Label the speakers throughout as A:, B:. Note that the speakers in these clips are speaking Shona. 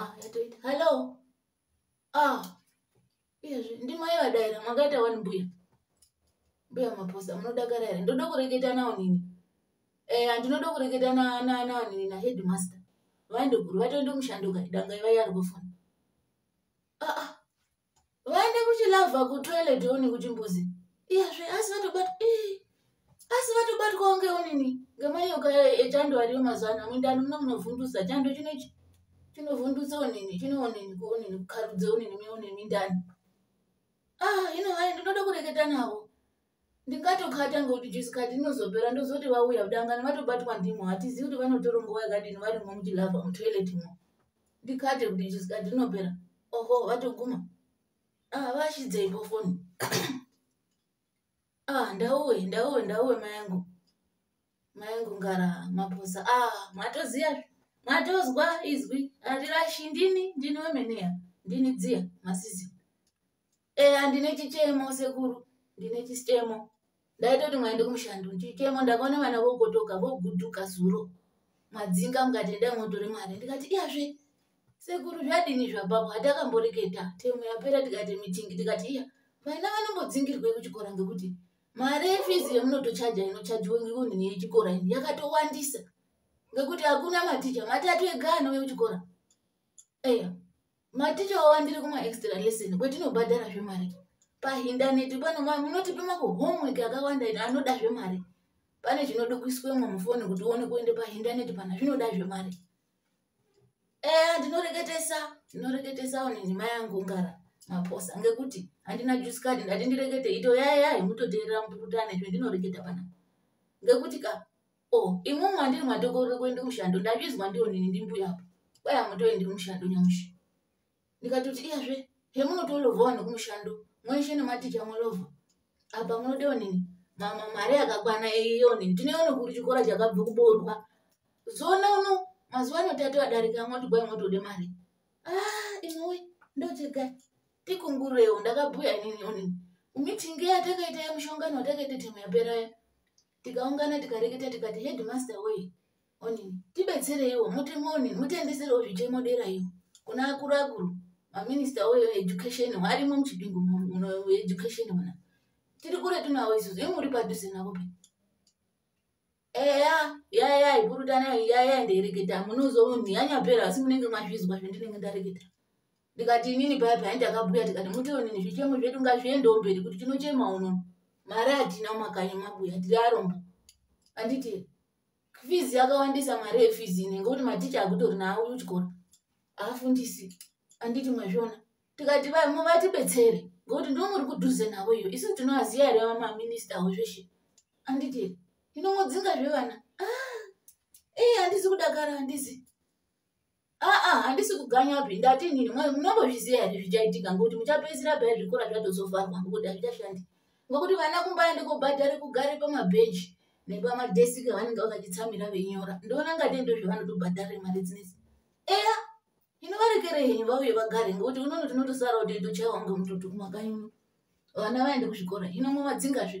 A: ah yatoita hello ah izvi ndimai vadaira makaita wani mbuya mbuya maposa munodakara here ndoda kureketa nawo nini eh andinoda kureketa nawo nini naheadmaster vaende guru vatoende mushando kai danga ivai ari kufona ah ah vaende kuchilavha kutoilet one kuchimbuzi iyazve asi vatobat asi vatobatwawo ngeonini ngemayoka echando ariyo mazuva ano mundani muno munovhundusa chando chino chinovhundutsa onini chinoonini kuonini kukharudza onini meonini mindani ah ino hai ndinoda kureketa navo ndikatokata ngokuti jusi kati inozopera ndozoti vauya kudangani vatobatwa ndimo hatizivi kuti vanotora nguva yakadini varimo muchilava mutoilet mo ndikate kuti jusi kati inopera oho vatoguma ah, vashidzeiko foni ah, ndauwe ndauwe ndauwe mayangu mayangu ngara maposa ah, matoziva matozwa izwi hatirashindini ndini wemeneya ndini dziya masizi eya ndine chichemo sekuru ndine chichemo ndaitoti mwaende kumushando chichemo ndakaona vana vogotoka voguduka zuro madzinga mukati ndai motore mari ndikati iyazve sekuru zvadini zvapapo hatakamboreketa temu yapera tikati mitingi tikati iya vana vanombodzingirwei kuchikora ngekuti mari yefizi yemunotochaja inochajiwa ngekunhini yechikora ini yakatowandisa ngekuti hakuna maticha matatu ega anouye kuchikora eya maticha wava ndiri kuma extra lesson kwetinobhadhara zvemari pahindaneti pano ma munotipe mako homework akawanda ino anoda zvemari pane zvinodukuiswemo mufoni kuti uone kuende pahindaneti pana zvinoda zvemari eya eh, ndinoreketesa ndinoreketesa one nhima yangu ngara maposa ngekuti handina juice card ndati ndirekete ito yaya yaya imutoteerera muputane zvendinoreketa pana ngekuti ka Oh, imwe mwandiri matokorera kuenda kumushando ndabizwa ndiwo nini ndimbuya apo kwaya mutoendi kumushando nyamushi ndikatoti iyazve hemunotolovhawo nekumushando mweshe nematicha mulovha apa munodewo nini mama mari yakakwana iyo nini tineono kuri chikora chakabva kuboorwa zona uno mazuva ano tati vadarika mwoti kwai mwotode mari ah, imwe ndochega tikungurewo ndakabhuya nini onini mitingi yatakaita yemushongano watakaita timu yaperaya tikaungana tikareketa tikati headmaster wei onini tibetsereiwo mutemo onini mutendeserewo zvichemo dera iyo kuna akuru akuru maminista oyo education arimo muchipingo mueducation muna tiri kure tunawo isusu i muri padhuze navo pe eya yaya ipurutana yaya ndereketa munozoonhi yanyapera asi munenge mazvizwa zvendinenge ndareketa ndikati inini paya paya ndakabuya tikati mutionini zvichemo zvedu ngazviendewo mberi kuti tinochema uno mari hatina mumakanyi mabuya tiri arombo anditi fizi yakawandisa mari yefizi ine ngekuti maticha akutori naawo uchikora aafundisi anditi mwazviona tikati vamwe vatibetsere ngokuti ndo muri kudhuze navo iyo isu tinoaziva here vamaminista avo zveshe anditi inomudzinga zvevana ah, ee handisi kudakara handisi aa handisi kuganyapi ndati nini munongozviziva here zvichaitika ngokuti muchapedzisira paya zvikora zvatozovharwa ngokuti hazvichashandi ngokuti vana kumba yende kobhadhari kugare pamabhenji nepamadesiki avanenge vakachitsamira veinyora ndoona ngati ndozvavanotobhadhare mari dzinesi eya inovarekere henyu vauye vagare ngokuti unono tinotosara kuti ndochaiwa ngomututu kumakanyi uno vana vaende kuzvikora hino mumadzingazve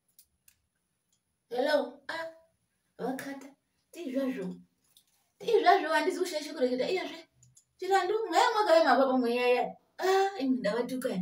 A: hello a ah, vakata tiizvazvo tiizvazvo handizi kushaisha kureketa iyazve chirandu mweya mwakave mapapa mweya ya a ah, ndavatukai